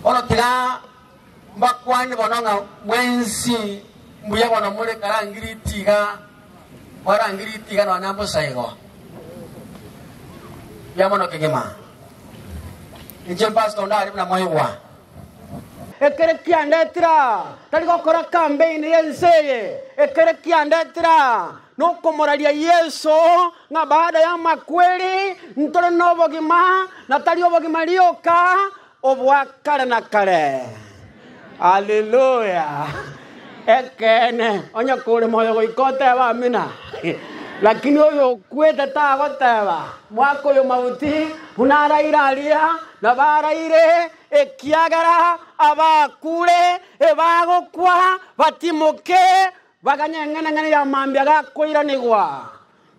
Bono tiga mbakwane bono ng'a mwensi mbuya bono more karangiriti iga, mwarangiriti iga nonya mbosaigo. Mbuya mono kegima. Inche mpasto ndare buna mwaigwa. Ekero kiandetire aa, tari gokora kambeini y'ense eye. Ekero kiandetire aa, Nokomoraria Yeso ng'a baada y'amakweri ntore nobogima, na tari obogima rioka, obwa kare na kare. Haleluya! Ekeene, onye kore moyo goika oteba Amina. Lakini oyokwete tagoteba, Mwaka oyo mauti, buna araire aria, na baraire, ekiagera abakure ebagokwa, batimoke. Baganye eng'enang'ena ya mambia gakoiranigwa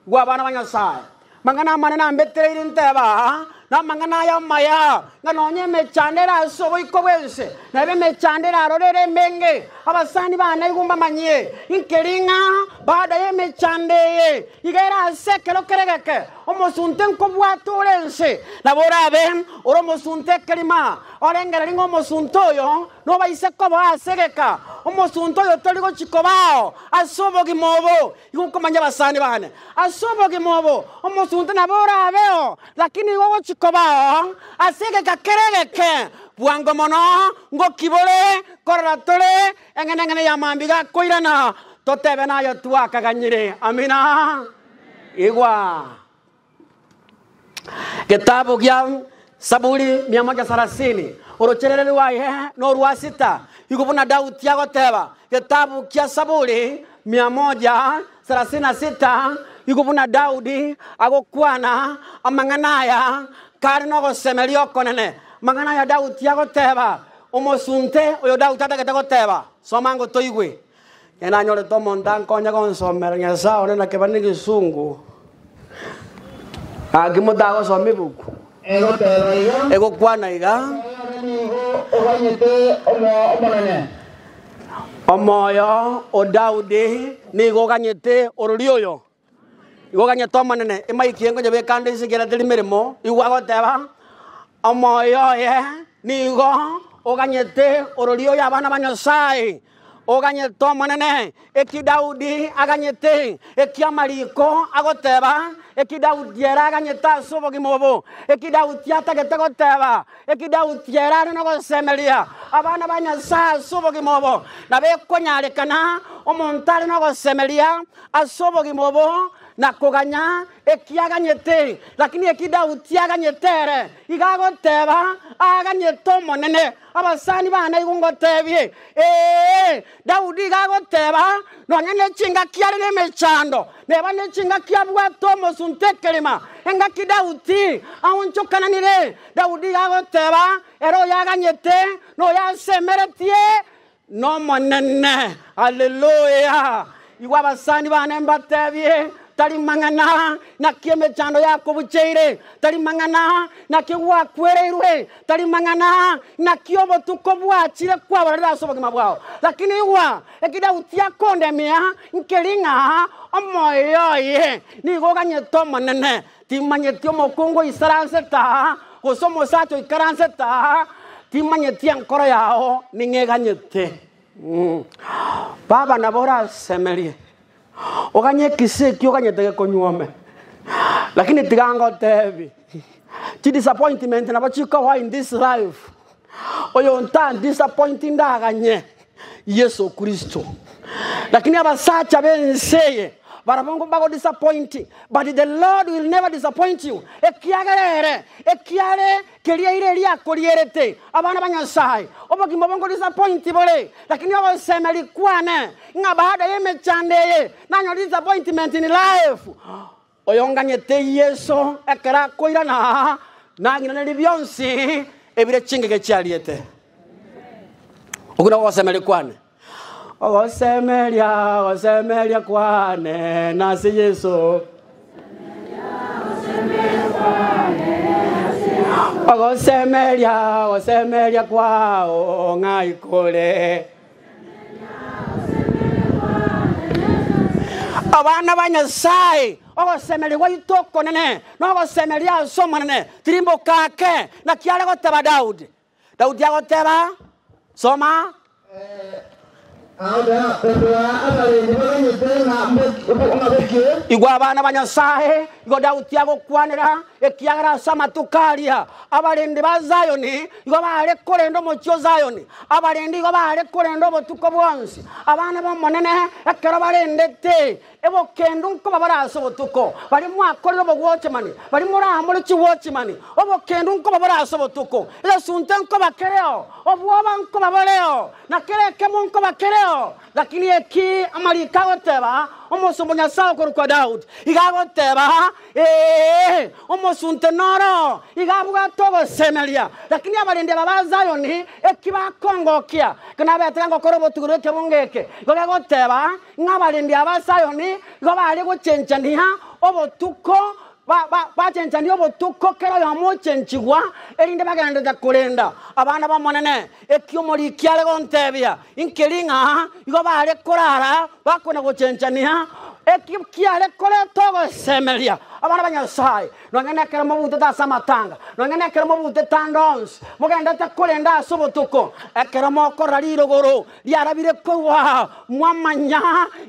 gw'abana ba Nyasae. Mang'ana amanene ambetereire ntebe aa, na amang'ana aya amaya, ng'a nonya emechando ere ase oboiko bw'ense, na ebe emechando erarore ere emenge. Abasani ba naigwa mbamanyie, inkeri ng'a baada y'emechando eye iga ere ase ekero kere geke, omosunte nkobwate ore ense nabo orabe ore omosunte ekerima, orenge riria ng'a omosunte oyo Nobaise koba ase egeka omosunte oyo tori gochia kobao ase obogima obo, igo nkomanyia abasani baane. Ase obogima obo omosunte nabo orabeo, lakini igo ogochia kobao ase egeka kere egeke. Bwango mono ngoki bore korora tore eng'enang'ena ya mambia gakoirana, totebe naye twakaganyire. Amina. Igwa. Getabu gia Saburi mia moja sarasini, orochereri rwaye norwa sita, igo buna Daudi agoteba. Getabu gia Saburi mia moja sarasini na sita, igo buna Daudi agokwana amang'ana aya kare nogosemeria okonene. Amang'ana aya Daudi agoteba, omosunte oyo Daudi atagete goteba. Soma ngotoigwe. Ekero nanyorete omonto ankonye gonsomera Nyasae one na kebare na egesungu, gaki motagosoma ebuku, egokwana iga, Omoyo o Daudi nigo oganyete orori oyo. Igo ganyete Omonene, ima ekiengo nyebeke ande inse ekiagera teri meremo, igwa agoteba, Omoyo oye nigo oganyete orori oyo abana ba Nyasae, oganyete Omonene, eki Daudi aganyete, eki amariko agoteba, eki Daudi ere aganyete ase obogima obo, eki Daudi atagete goteba, eki Daudi ere are nogosemeria abana ba Nyasae ase obogima obo, nabo ekonyarekana omonto are nogosemeria. Ase obogima obo na koganya eki aganyete, lakini eki Daudi aganyete ere, iga agoteba aganyete Omonene, abasani bane naigwe ngotebie, Ee, Daudi iga agoteba, nonya ne chingaki are nemechando, neba ne chingaki abwate omosunte ekerima, engaki Daudi aonchokananire. Daudi iga agoteba ere oyaganyete noyo asemeretie, Nomonene! Haleluya! Igwa abasani bane mbatebie, Tari mang'ana! Naki emechando yakobucheire! Tari mang'ana! Naki gwakwereirwe! Tari mang'ana! Naki obotuko bwachire kwabarire ase obogima bwao. Lakini igwa, eki Daudi akondemia, nkeri ng'a omoyo oye nigo oganyete Omonene, Timanyeti omokungu oisaransete aa, gose omosacha oikaransete aa, timanyeti enkoro yao ning'o eganyete. Baba nabo orasemerie, oganye ekisii ekio oganyete gekonywa ome. Lakini tiga ngoteebie, chidisappointment nabo chikowa in this life. Oyonto andisappointi ndaganye Yeso Kristo. Lakini abasacha b'ense eye barabwo nkobagodisappointi, but the Lord will never disappoint you, ekiagera ere ekiare keria ire eria akorierete abana ba Nyasae. Obogima obo nkodisappointi bore, lakini ogosemeria kwane ng'a baada y'emechando eye nanyore disappointment in life. Oyonganyete Yeso ekero akoirana, nang'inanerie bionsi ebire chingige chiariete. Okwo nokwo ogosemeria kwane. Ogosemeria, ogosemeria kwane nase Yeso. Ogosemeria, ogosemeria kwao ng'ai kore. Abana ba Nyasae, ogosemeria gwaito okonene nogosemeria ase Omonene tirimboka ake, naki are goteba Daudi. Daudi agoteba, Soma. Igwa abana ba Nyasae, igo Daudi agokwanera, ekiagera ase amatuko aria Abarendi ba Zayoni nigo baare korenda omochie o Zayoni, abarendi igo baare korenda obotuko bwonsi, abana b'Omonene ekero barendete ebokendo nkobabara ase obotuko. Baria mwakorire obogwochi mani baria moramore chigwochi mani obokendo nkobabara ase obotuko, egesunte nkoba kereo, obwoba nkoba boreo, na kera ekemo nkoba kereo. Lakini eki amariko agoteba omosomba o Nyasae okorokwa Daudi, iga agoteba, Ee, omosunte noro iga abwate ogosemeria, lakini abarendi aba ba Zayoni eki bakongokia, ekero nabeete gokora obotugi bw'ekebungo eke, igo gegoteeba ng'a abarendi aba ba Zayoni igo bare gochenchania obotuko, bachenchanie obotuko, kera oyomo ochenchigwa, erinde bagenderere korenda abana b'Omonene, eki omoriki are gonteebia. Inki ring'a igo baare korara bako na gochenchania eki kiare korenta ogosemeria abana ba Nyasae? Nonya nekero mobuntete ase amatanga, nonya nekero mobuntete ande onsi, mogendete korenda ase obotuko, ekero mokorora rirogoro riarabire kogwa, mwamanya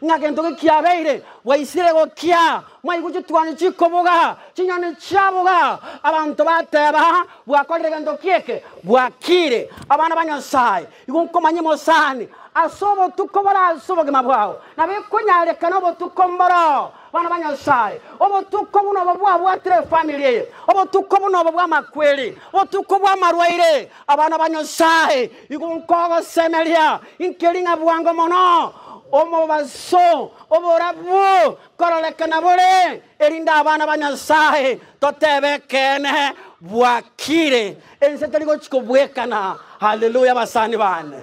ng'a gento ki kiabeire, bwaisire gokia, mwaigwa chituoni chikobuga, chinyoni chiabuga, abanto bateba, Bwakorire gento ki eke? Bwakiire, abana ba Nyasae. Igo nkomanye mosani ase obotuko bore ase obogima bwao, na bikonyarekana obotuko mboroo, bana ba Nyasae, obotuko buna obo bwabwatire efamiri eye, obotuko buna obo bw'amakweri, obotuko bw'amarwaire. Abana ba Nyasae, igo nkogosemeria inkeri ng'a bwango mono omobaso oborabu kororekana bore Erinde abana ba Nyasae totebe ekeene bwakire, ense teri gochia kobwekana. Haleluya basani bane.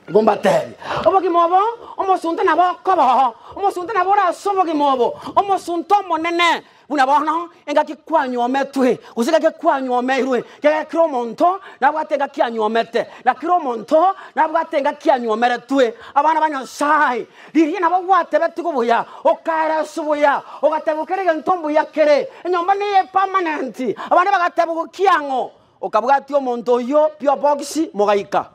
Igo mbatebie, obogima obo omosunte nabo okoba oo, omosunte nabo ore ase obogima obo, omosunte omonene, buna bono engaki kwanyometwe, gose egake kwanyomeirwe, kiagera kera omonto nabwate engaki anyomete, na kera omonto nabwate engaki anyomeretwe. Abana ba Nyasae Rigiya nabo gwatebetigwe buya, okaera ase obuya, ogateebwa kera egento ombuya kere. Enyomba neye epamanenti. Abande bagateebwa gokia ang'o? Okabwatia omonto oyio pio bokisi, mogaika.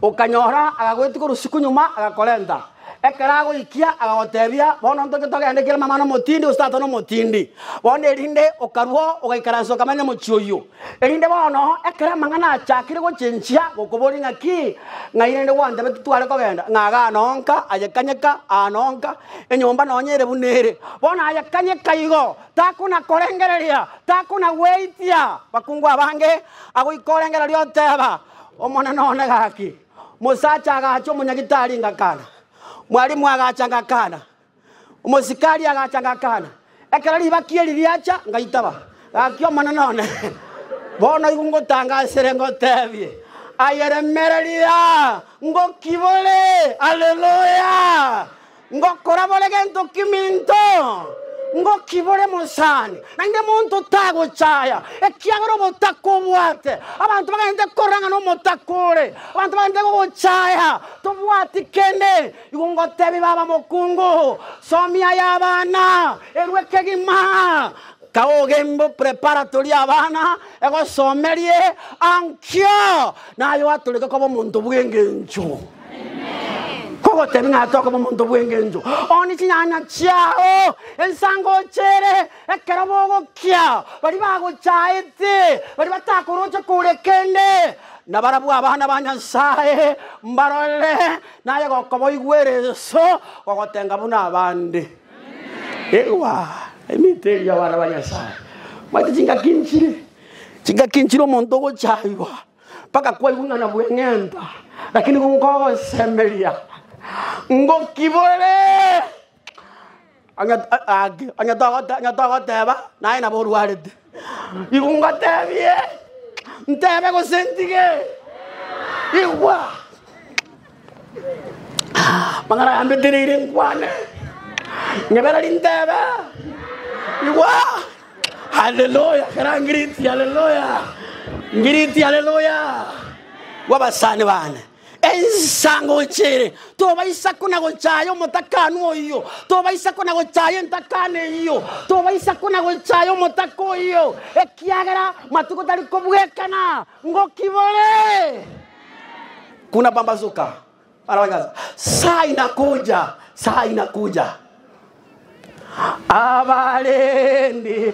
Okanyora agagoetia korwa usiku nyuma, agakorenta. Ekero agoikia agagoteebia, bono ntoke togende kera mama nomotindi, gose tata nomotindi. Bono erinde okarua, ogaikaransa okamanya mochie oyio. Erinde bono, ekero amang'ana achakire gochenchia, gokoborie ng'aki? Ng'ai rende gwantebete tware kogenda? Ng'a iga ano nka, ayekanyeka, ano nka, enyomba nonya ere buna ere. Bono ayekanyeka igo, takonakorengereria, takonagweitia bakungu abange, agoika orengereria oteba, Omonene one gaki. Mosacha agacha omonyagitari ngakana, Mwalimu agacha ngakana. Omosikari agacha agakana, Ekero ribakia eri riacha, ngaitaba. Gaki, Omonene one, bono igo ngotanga asere, ngoteebie, Ayeremereria, ngoki bore! Haleluya! Ngokora bore gento kiminto, ngoki bore mosani, naende monto tagochaya, ekiagera omotaka obwate. Abanto bagachete korora ng'a nomotaka ore, abanto bagachete gogochaya, tobwati kende. Igo ngoteebie baba mokungu, Somia aya abana, erwe ekegima, kaogembe preparatory abana, egosomerie ankio naye oatoreke koba omonto bw'engencho. Kogotebi ng'a tokoba omonto bw'engencho, ooni chinyanya chiao, ensango ochere, ekero bogokia, baria bagochaete, baria batakoroche kore kende, nabarabwo abana ba Nyasae, mbarorere, Naye gokoboigwera enso gogotenga buna abande. Igwa, emito eria y'abana ba Nyasae. Omanyete chingaki nchire? Chingaki nchire omonto ogocha igwa mpaka kwaigwa ng'a nabweng'enta, lakini nigo nkogosemeria ngoki bore. Onye gaki, onye togote onye togoteba naye nabo orwarete. Igo ngotebie, ntebe gose ntige? Igwa! Amang'ana aya mbetereire nkwane, ngebera rintebe, igwa! Haleluya! Kera ngiriti haleluya! Ngiriti haleluya! Gwa abasani bane. Ensa ngocha ere, tobaisa kona-gochaya omotakanu oyio, tobaisa kona-gochaya entakano eyio, tobaisa kona-gochaya omotaka oyio, ekiagera matuko tari kobwekana ngoki bore. Kunapambazuka, bana ba Nyasae, saa inakuja, saa inakuja, abarendi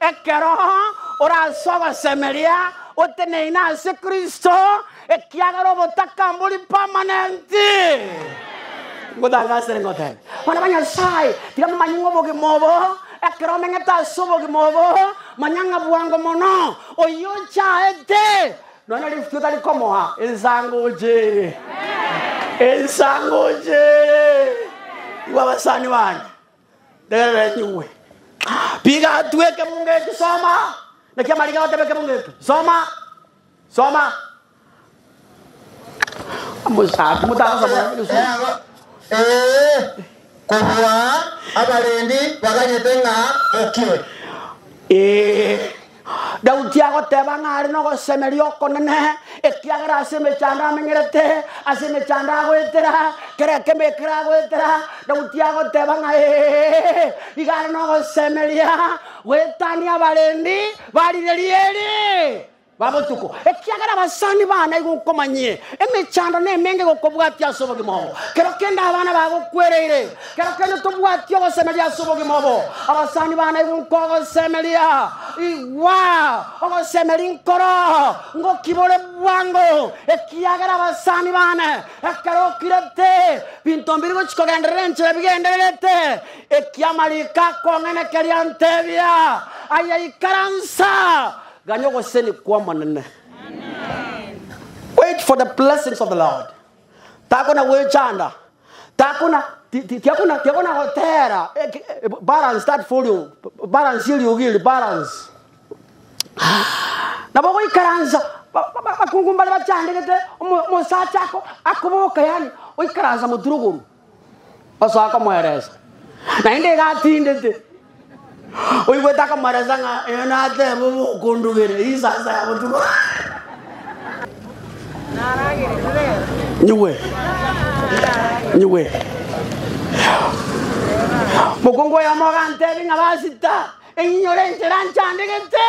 Ekero oranse ogosemeria, oteneine ase Kristo, ekiagera obotaka mbori permanenti. Ngotangasere ngotebe, bana ba Nyasae, tiga momanye ng'a obogima obo, ekero omenyete ase obogima obo, manya ng'a bwango mono oyio ochaete nonya lifuti otari komoa ensango oche ere. Ensango oche ere. Igwa abasani bane. Rerenyigwe. Piga atu ekemunga eke soma. Naki amariga goteba ekemunga eke. Soma. Soma. Omosaku motagosa mwana Yesu. Eago, ee, kobua abarendi baganyete ng'a bokire. Ee. Daudi agoteba ng'a are nogosemeria okonene, ekiagera ase emechando amenyerete, ase emechando agoetera, kera ekemo ekero agoetera, Daudi agoteba ng'a ee, iga are nogosemeria goetania abarendi ba rireri eri ba botuko, ekiagera abasani bane nigo nkomanyie emechando nemenge gokobwatia ase obogima oo, kero kende abana bagokwereire. Kera kende tobwati ogosemeria ase obogima obo. Abasani banairwe nkogosemeria. Igwa, ogosemeria nkoro ngoki bore bwango, ekiagera abasani bane ekero okirete binto mbiri gochia kogenderera enchera bigendererete. Ekia amariiko akong'aina keria antebia, Aye ikaransa, ganya ogoseni kw'Omonene. Wait for the blessings of the Lord. takona gwechanda takona ti- ti- tiakona tiakona gotera eki- eh, balance that volume balance eriogi eri balance nabo goikaransa ba- ba- ba- bakungu mbare bachandegete omo- omosacha ako akoboka yani oikaransa moturogoru Osoa komoeresa, naende iga atindete. Oigwete akomoeresa ng'a eyo nateba obe okondugera eye isasa ya botuko. Nyigwe. Nyigwe. Mokungu oyomo ogantebi ng'a basita, enyinye ore enchera nchandegete.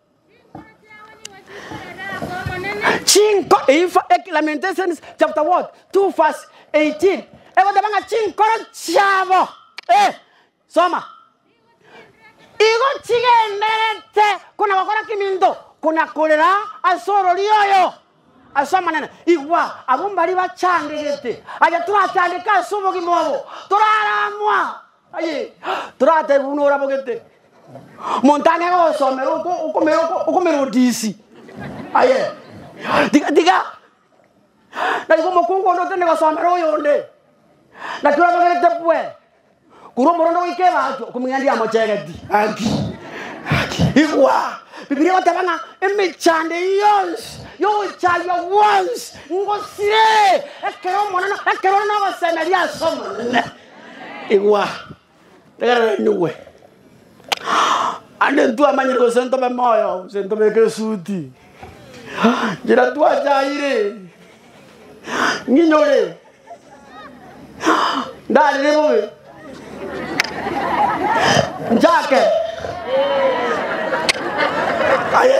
Chinko eifa eki Lamentations chapter what 2 verse 18 egoteba ng'a chinkoro chiabo eh, soma igo chigenderete kona gokora keminto kona korera ase orori oyo ase omonene igwa abwo mbari bachangegete aye torachandeke ase obogima obo toraramwa Toratebi buna orabogete omonto ang'e gogosomera okomera odisi, aye tiga naiboka omokungu onde otende gosomera oyonde, naki orabogerete bwe korwa omorende goika ebaasi okomong'ina ndiamochegeti, gaki gaki igwa, Bibilia egoteba ng'a emechando eye yonsi ya ogochaywa gwonsi ngosire ekero omonene ekero ore nogosemeria ase omonene. Igwa, rero inyigwe. Ande ntwamanyire gose ntobe moyo gose ntobeke esuti njira twachaire nginyore ndarire bobe njake aye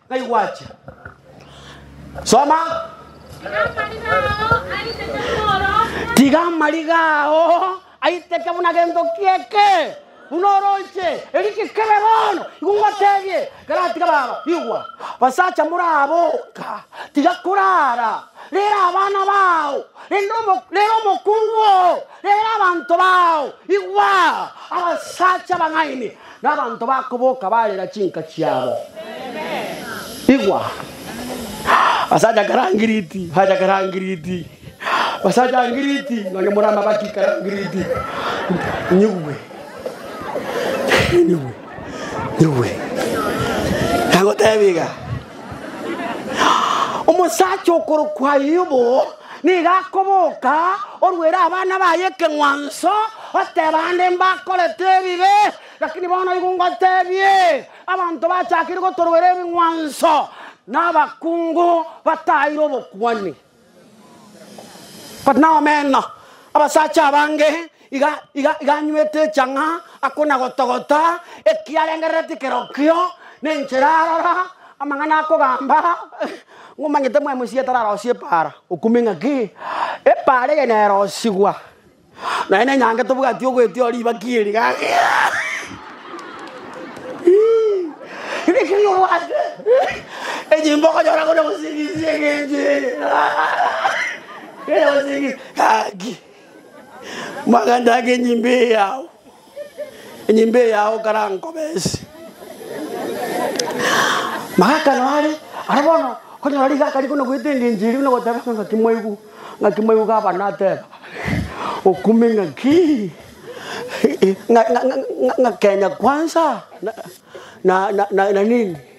Ngai gwachia. Soma. Tiga amariga ao aiteke buna gento kieke buna oroche eri gekebe bono igo ngotebie garatiga baba igwa basacha moraboka tiga korara rera abana bao rende omo- rera omokungu oo Reera abanto bao, igwa, abasacha abang'aini, na abanto bakoboka barera chinka chiabo. Igwa, abasacha kera ngiriti, abasacha kera ngiriti, abasacha ngiriti, nonya more amabati kera ngiriti, nyigwe, nyigwe, nyigwe. Nagoteba iga, omosacha okorokwa Ayubu Nigo akoboka orwere abana baye ekeng'wanso, oteba, Ande mbakorete ebibe, lakini bono igo ngotebie, Abanto bachakire gotorwera ebing'wanso, na abakungu bataeire obokuani. Kore nomeno, abasacha abange Iga, iga, iga anywete echang'a, akonagotogota ekiarengerereti kerokio, nenchera arora amang'ana akogamba, ng'omanyete mwaye Moisraeli tararosie epaara, okumia eng'aki, epaara eye nerosigwa, naye nenyange tobwati ogoetia oo ribaki eri gaki Rigirii obwate enyimba okonyora kore gosingisia egencho eye kere gosingisia gaki. Magandaga enyimba eye yao, enyimba eye yao karankobe ense. Magaka noare ara bono onyora rigaka rikona goeta engencho eria buna goteba ng'a ng'aki mwaigu ng'aki mwaigu gavana ateba okume ng'aki ng'a ng'a ng'a Kenya kwanza na na na nini.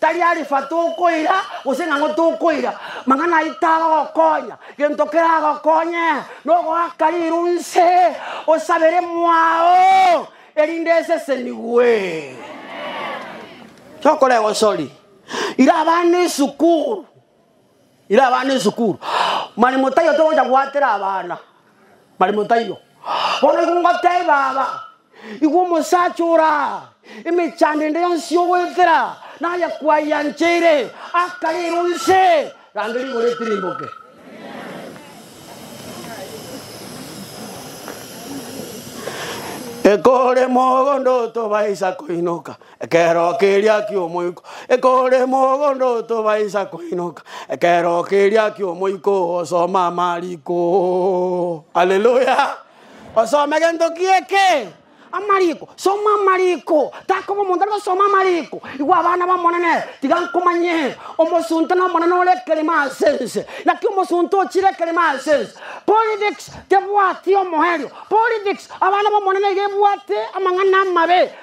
Tari arifa tokoira, gose ng'ang'o tokoira, mang'ana ayio tagokonya. Gento keragokonye nogoaka riiru inse osabere mwao, erinde esesenigwe. Tokorego sorry. Ira abana esukuru. Ira abana esukuru, mani motaiyo togocha goatera abana, mani motaiyo. Bono igo ngoteeba aba, Igwa omosacha ore aa, emechando ende yonsi y'ogoetera naye kwayancheire, akarera onse, rangeria igoro etirimboke. Ekore mogondo tobaisa koinoka, Ekeero keria ki'omoika, ekore mogondo tobaisa koinoka, ekeero keria ki'omoika ogosoma amariko. Haleluya! Osome gento ki eke? Amariko. Soma amariko. Takoba omonto are gosoma amariko. Igwa abana b'Omonene, tiga nkomanye. Omosunte n'omonene ore ekeremo ase ense. Naki omosunte ochire ekeremo ase ense. Politics tebwati omoerio. Politics, abana b'Omonene iga ebwate amang'ana amabe.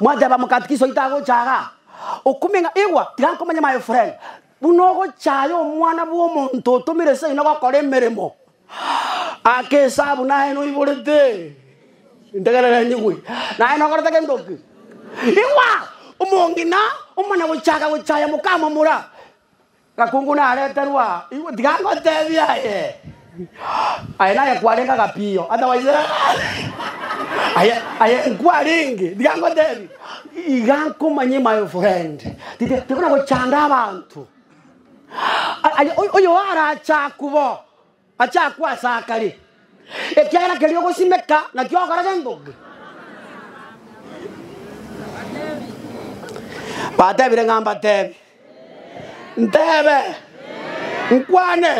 Mwateba mokatikisa oito agochaga okumia ng'a igwa tiga nkomenye my friend buna ogochaya omwana bw'omonto otomire seino gokora emeremo ake esabu naye noiborete integerera nyigwe naye nokorete gento ki igwa omong'ina omana gochaka gochaya mokamomura Gakungu nareterwe aa, igwe tiga ngotebie aye. Aye naye kwarenge agapiyo, otherwise aye aye nkwarenge, tiga ngotebie. Iga nkomanye my friend, tite tikona gochanda abanto. Aye oy- oyo arache akubo. Achakwe asakare, ekiagera keria ogosimeka nakio ogokora gengoki. Batebire ng'a mbatebe, ntebe, nkwane.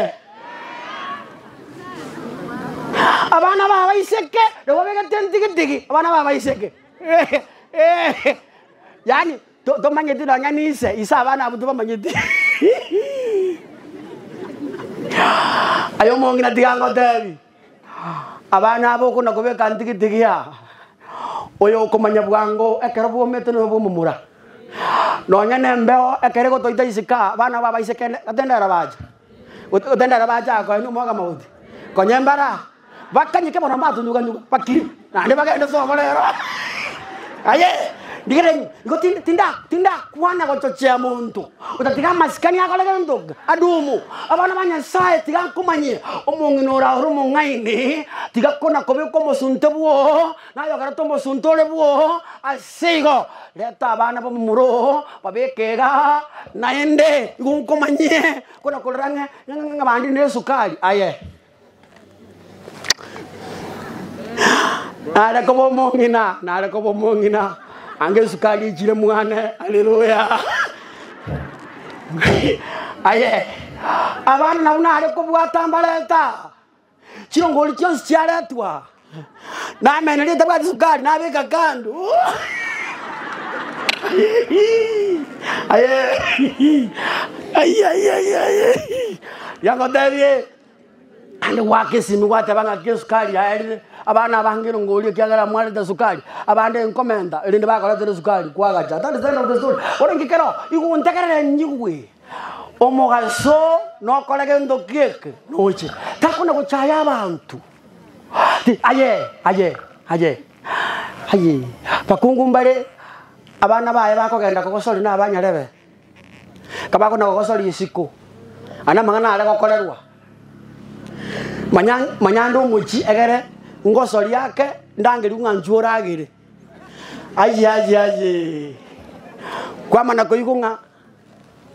Abana babaiseke nabo begete ntigitigi, abana babaiseke yaani. Tomanyeti nonya n'ise, ise abana abwo tibamanyeti. Aye omong'ina tiga ngotebi, abana aba okona kobeka ntigitigi aa, oyo okomanya bwango ekero bwomete noyo bw'omomura. Nonya nembeo ekero egotoita isiko aa, abana aba abaise kende, gatende ere bacha. Gotenderera bachaka koenwa omwoga mogote, konya embara bakanyeke mono mbatunduga-nduga, bakire, naende bagende sobo rero. Aye, rigereria ng'o, igo tindi, tinda, tinda kwana gochochea monto, otatiga amasikani akore gento onga adumu. Abana ba Nyasaye tiga nkomanyie, omong'ina ore aye ore omong'aini, tiga kona kobeka omosunte bwoo. Nayogerete omosunte ore bwoo ase igo, reta abana b'omomura oo babeke iga, naende igo nkomanyie kona korora ng'a ng'a ng'a bande nesukari. Aye nare koba omong'ina, nare koba omong'ina, anga esukari echire mwane. Haleluya! Aye abana nabwo nare kobwata mbarenta. Chinguru chionsi chiaretwa aa, namenya ritabwati esukari, nabeka kando. Aye, ai, ai, ai, ai, ai. Yangotebie, ande gwaka esimi gwateba ng'a ki esukari yaerire abana abange nongoria ekiagera mwarete esukari abande nkomenta erinde bakoretera esukari kwagacha that is the end of the story bono inche kero igo ontegerere nyigwe. Omogaso nokora gento gieke noche, takona gochaya abanto. Aye, aye, aye, aye, bakungu mbare abana baye bakogenda kogosori na abanyarebe, kabakona kogosori isiko, ande amang'ana are gokorerwa. Manya manya ande omochi egere ngosori ake ndangerio ng'a nchwo oragere. Aye, aye, aye, kwamana koigwa ng'a.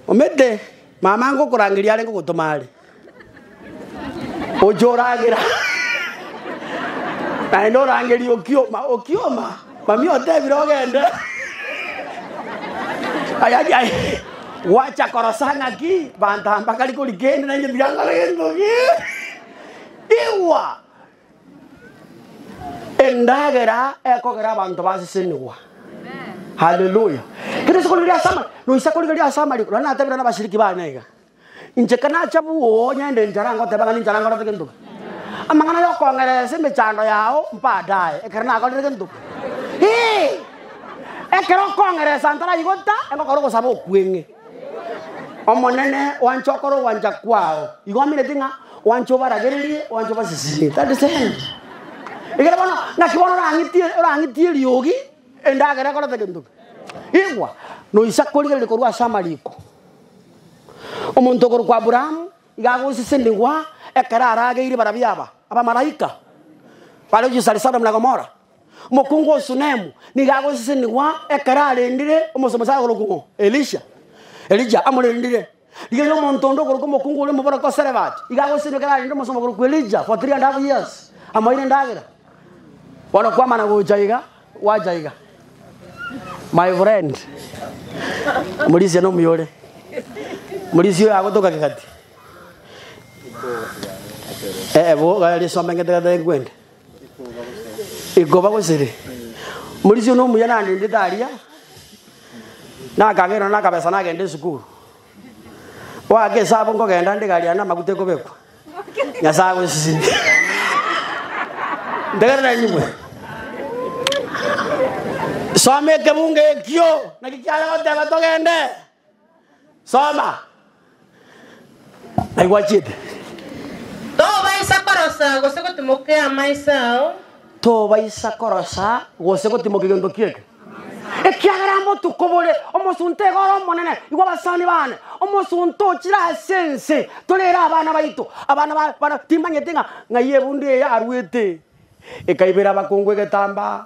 Omete, mama ange okorangeria arenge ogotoma are, oche oragera naende orangerie okioma, okioma, mamia otebire ogende ayaki aye, gwacha korosa ng'aki bantamba kari kori kende nainche tiga nkore gento kende, igwa. Endagera ekogera abanto basesenigwa. Haleluya. Kero ase korigereria ase amari, noisa korigereria ase amariko. Nonye natebire nabashiriki bane iga, inche ekero nacha bwooo nyende nchara ngoteba ng'a ninchara nkorete gento ki. Amang'ana ya okong'eresa emechando yao mbadaye ekero nakorire gento ki. Eeh! Ekero okong'eresa ntaraigo ta, egokora ogosaba okweng'e. Omonene oanche okore ogwancha kwao. Igo oamerete ng'a oanche obaragererie, oanche obasisiimie. That is the end. Ekero bono, naki bono orang'eti orang'eti eriogi, endagera ekorete gento ki? Igwa, noise akorigereria korwa ase amariko. Omonto okorokwa Aburaamu, iga agosesenigwa ekero arageire barabwo aba, abamaraika, bare Sodom na Gomora. Omokungu o Sunemu nigo agosesenigwa ekero arendire omosomba akorokwa ng'o? Elisha. Elija amorendire. Rigereria omonto onde okorokwa omokungu oria omoboroko o Sarefati, iga agosesenigwa ekero arendire omosomba okorokwa Elija for 3 and half years, amoeire endagera. Bono kwamana gocha iga, gwacha iga. My friend, Murisia nomuyore. Murisia oyo agotoka kegati. Eh, eh, bo, gari some ngete gata enkwende. Ikoba gosere. Morisia one omuya nandendete aria, nakagerwa nakabesa nagenda esukuru. Oake esabu nkogenda nde gari yane amaguta ekobekwa. Nyasaye agosisime. Ntegerera enyigwe. Soma ekebunga ekio, naki kiare goteba togende. Soma. Naki gwachiete. Tobaisa korosa gose gotimokia amaiso ao. Tobaisa korosa gose gotimokia gento kieke. Ekiagera amo tokobore omosunte igoro Omonene, igwa abasani bane, omosunte ochire ase ense, torere abana baito. Abana ba bana timanyete ng'a ng'ai ebundu eye aruete, ekaibera abakungu egetambaa,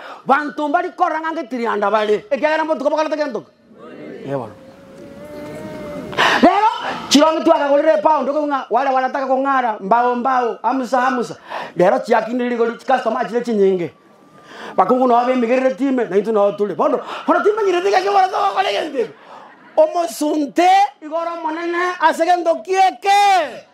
Banto mbari korora ng'a ngetirianda bare, ekiagera mbotuka bakorete gento ki? Ee bono. Rero chironge twakagorire epoundi okobua ng'a ware barataka kong'ara mbao mbao amusa amusa rero chiakinire rigori chicustomers chire chinyinge bakungu noo bemigerereti ime naintwe noo tore bono bono timanyereti ng'aki oborenge gokora egento eke omosunte igoro omonene ase gento ki eke.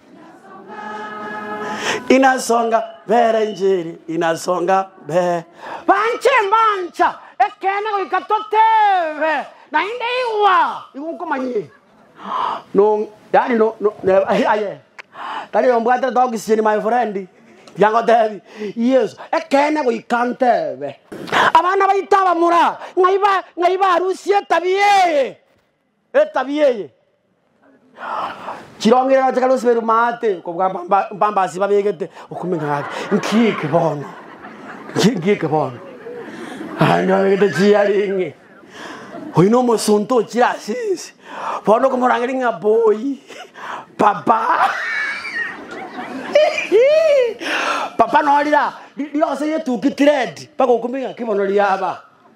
Inasonga mbere injiri inasonga mbere. Banche mbancha ekeene goika toteebe naende igwa nigo nkomanyie no yaani no no neba aye aye tari oyo mbwatete oxygen my friend mbuya ngotebi Yeso ekeene goika nteebe. Abana baito abamura ng'ai ba ng'ai barusia etabia eye. Etabia eye chirongereria gocha kare osibeirwe maate kobua mpamba mpamba ase babegete okomenya gwaye nki eke bono nki nki eke bono naende babegete chiaringi oywo na omosonto ochire ase ense bono okomorangeria ng'a boy papa papa noo rira riroso rietuki tired mpaka okomenya ng'a ki bono riaba.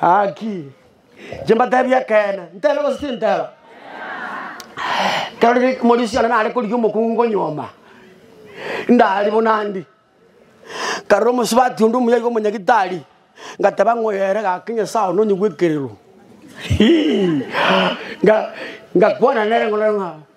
Haki. Inche mbateebie ekeene. Nteebe gose tinteeba? Ekero riri omorisia one nare korigia omokungu nyuoma, ndari buna ndi, nkarora omosubati onde omuya iga omonyagitari, ngateba ng'a oyo ere gaki Nyasae one onyigwekererwe. Hii, nga- ngakwana nere ng'a.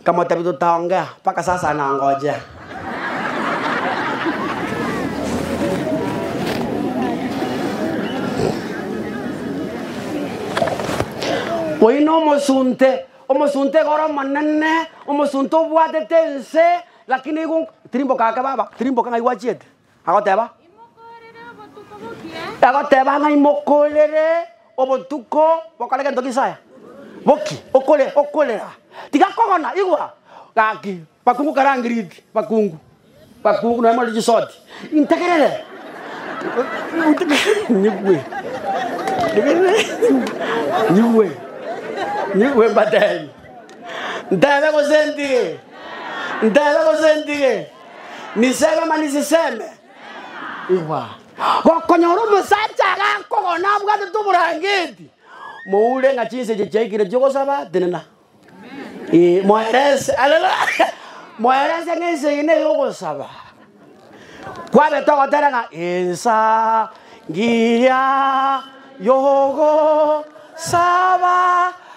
Nkamotebi totaongea mpaka sasa na ngojea. Oyio nomosunte, omosunte igoro omonene, omosunte obwatete ense, lakini igo nk- tirimboka ake baba, tirimboka ng'ai gwachiete. Agoteba, agoteba ng'a imokorere obotuko bokore gento gisaya boki okore okorera tigakogona igwa gaki bakungu karangiriti bakungu bakungu nonya more chisoti integerere nyigwe nyigwe nyigwe mbatebi ntebe gose ntige ntebe gose ntige. Nisebe mani siseme. Igwa, gokonyora omosacha agakogona abwatete oborangeti, moure ng'a chinseche chiaikire chi'ogosaba, tenena. Ee, moerese. Haleluya! Moerese ng'a ense eye neye ogosaba. Kwabete ogotera ng'a ensa ngiya yogo saba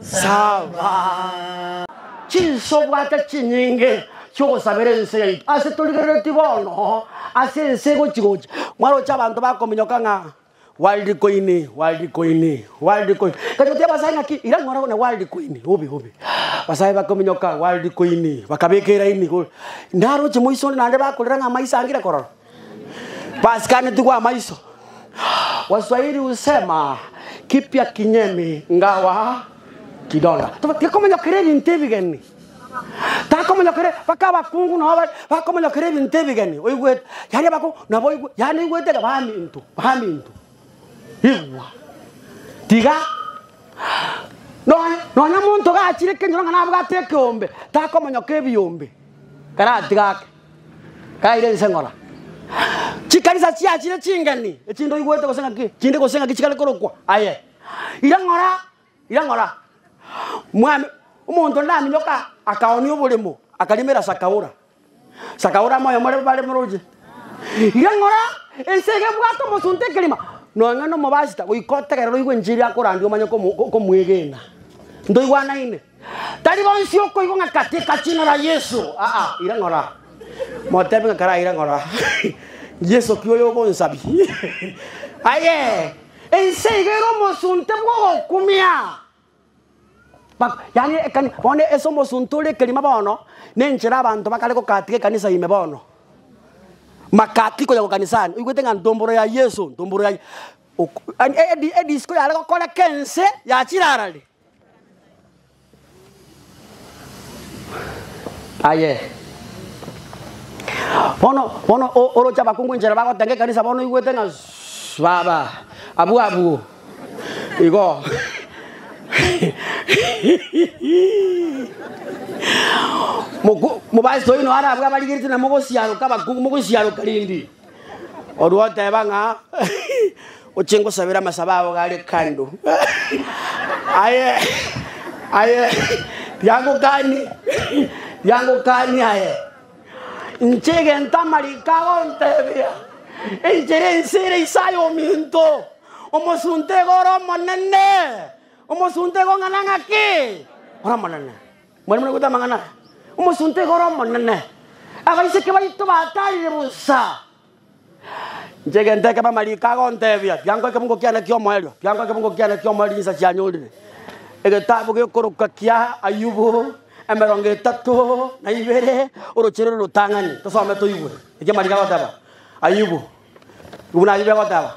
Saba chinsa obwate chinyinge chi'ogosabera ense yaito, ase torigereretie bono ase ense egochi-gochi, mwaroche abanto bakominyoka ng'a World Coin, World Coin, World Coin. Nkaimokia abasae ng'aki, ira ng'ora na World Coin, obe, obe. Abasae bakominyoka World Coin, bakabeka eraini igoro. Naroche moiso onde naende bakorera ng'a amaiso angire korora. Basiganetigwe amaiso. Waswahili husema kipya kinyemi ngawa kidonda. Tuba- Tikomonyokera ebinto ebigeni takomonyokere baka abakungu nabo ba- bakomonyokera ebinto ebigeni oigwete yaani abakungu nabo oigwe yaani oigwete iga baminto baminto igwa tiga nonya nonya omonto gachire ekenyoro ng'a nabwate ekeombe takomonyoka ebiombe karatigake. Kaire inse ng'ora chikanisa chiachire chingeni, echinde oigwete gose ng'aki chinde gose ng'aki chikare korokwa aye. Ira ng'ora, ira ng'ora, mwami, omonto onde naminyoka akaoonia oboremo, akarimera Sakaora. Sakaora moyo more bare moroche. Ira ng'ora, ense iga ebwate omosunte ekerima, nonye nomobasita, goika otegerere oigwe enchiri akorandia omanye komo- ko- komwegena. Ntoigwanaine? Tari bonsi okoigwa ng'a kateka ching'ora Yeso, aa, ira ng'ora. Motebi ng'a karaira ng'ora. Yeso ki oyo ogonsabia? Aye, ense iga ere omosunte bw'ogokumia. Bak- Yaani ekani- bono ase omosunte ore ekerima bono, na enchera abanto bakare gokatika ekanisa ime bono. Makati koya gokanisani, oigwete ng'a ntomboro ya Yeso, ntomboro ya Ye- ok- yaani edi- edisiko yare gokora kense yachire arare. Aye. Bono bono o- oroche abakungu enchera bagotenga ekanisa bono oigwete ng'a su- baba abwo abwo igo Moku- mopastor oino arabwo abarigeretie na mogosiaroka abakungu mogosiaroka rende Orwa oteba ng'a ochie ngosabere amasabo ao gare kando, aye aye yagokani yagokani aye. Inche egento amariko agontebia, enchera ense ere ase aye ominto, omosunte iga ore omonene, omosunte iga ong'ana ng'a ki? Ore omonene. Mwanyamonto naigwete amang'ana aya, omosunte igoro omonene, abaiseke baito batarire bosa. Inche egento ekebe amariko agontebia, biango ekebungo kiane ki'omoerio, biango ekebungo kiane ki'omoerio chinsa chianyorire. Egetabu gekorokwa kia Ayubu, emerongo etato na ibere, oroche rore rotang'ani. Tosome toigwe eki amariko agoteba Ayubu, buna ayio biagoteba.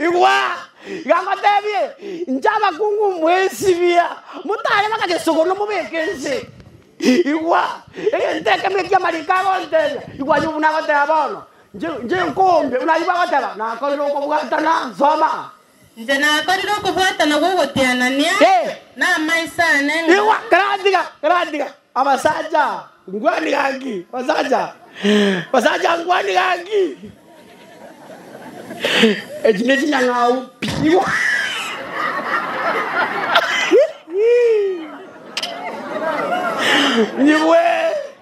Igwa! Iga ngotebie, inche abakungu mboesibia, motanyora agesoko nomobeke ense. Igwa! Egento ekemo eki'amariiko agontebia, igwa aye obo nagoteba bono, inche inche nkombe, buna ayio bwagoteba, nakorire okobwatana, nsoma. Inche nakorire okobwatana gw'ogotianania namaiso aane ng'a. Abasacha, nguani gaki! Basacha, basacha, nguani gaki! Echi nechinyang'au pi!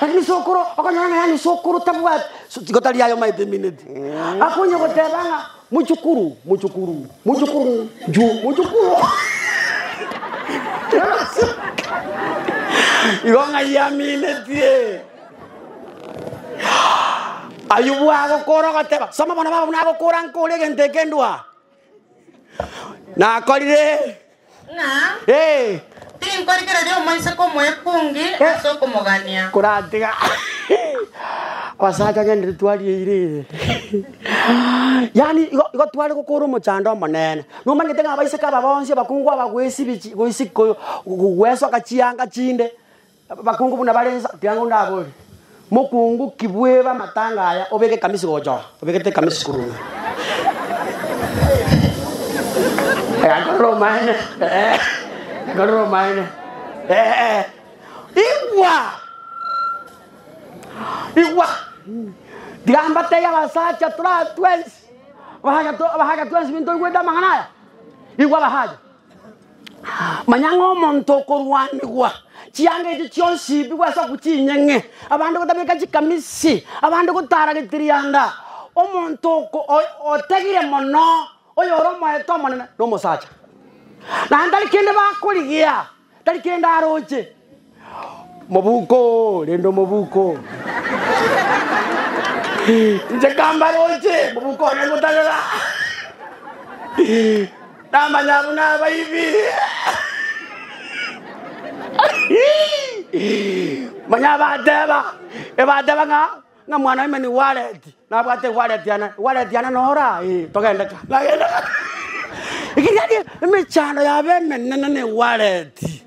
Lakini sokoro okonyora ng'a yaani sokoro tabwati so- tigo tari aye omaete emineti akonye goteba ng'a mochukuru mochukuru mochukuru nju mochukuru igo ng'ai aminetie ayubu agokora ogoteba soma bono baba buna agokora nkore egento eke ndwa nakorire, ng'a ee, tinkorigereria omoiseke omoekungi ase okomogania. koratiga abasacha ng'endere twarigeire ere. Yaani igo igo tware gokora omochando omonene. Nomanyete ng'a abaiseke aba bonsi abakungu aba goisibi chi- goisi- ko- go- goesoka chianga chinde. Abakungu buna bare inse, tiga ng'o ndaborie. Mokungu ki bweba amatanga aya obeke ekamisi gocha oo? Obegete ekamisi korwa ime. Aya nkorora omaene. Ee, nkorora omaene. Ee. Igwa! Igwa! Tiga mbatebie abasacha tore aa twensi. Abasacha to- abasacha twensi bintoigwete amang'ana aya. Igwa abasacha. Manya ng'a omonto okorwanigwa, chianga echi chionsi ibigwe ase okwa chinyeng'e, abande gotabeka chikamisi, abande gotara getirianda. Omonto oko- o- otegire mono oyore omoeto omonene nomosacha, naende tari kende bakorigia. Tari kende aroche mobuko oo, rende omobuko oo. Inche kambaroche mobuko one ngotarera. Namanya buna abaibi. Manya bateba, ebateba ng'a ng'a mwana oime nigo areti. Nabwate gwaretiana, gwaretiana nora? Ee, togende ka. Bagenda ka. Ekeriani emechando yabo emenene negwareti,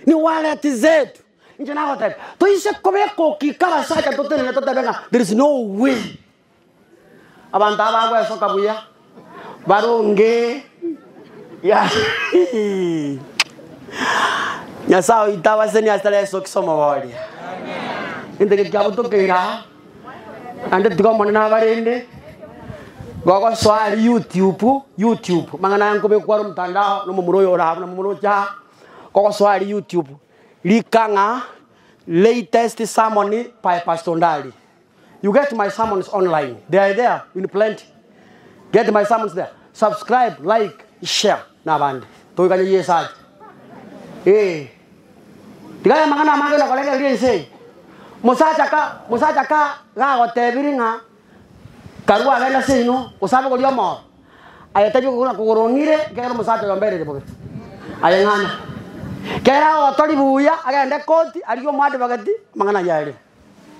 negwareti zetu. Inche nagotebia, toise kobeka okika abasacha totenene totebe ng'a there is no way abanto aba bagwesoka buya, baronge ya nyasae oito abaseni ase tara yesu kristo omogoria egento eke kiabo tokeire aa naende tiga omonene abarende gogosoa aria youtube youtube amang'ana aya nkobekwa are omotandao na omomura oyo ore aa buna momura ocha aa kogosoa aria youtube rika ng'a latest sermon by pastor ndari. You get my sermons online they are there in plenty get my sermons there subscribe like share nabande toiganye Yeso ache ee tiga amang'ana amange nakoregereria ense eye mosacha ka mosacha ka gagotebiri ng'a karua agende ase ino gose abe goria omoro ayetebi gokora kogorong'ire kegera omosacha oyo mberire bobe aye ng'ana kera otori buya agende koti arigie omo advocate amang'ana ayio aerire.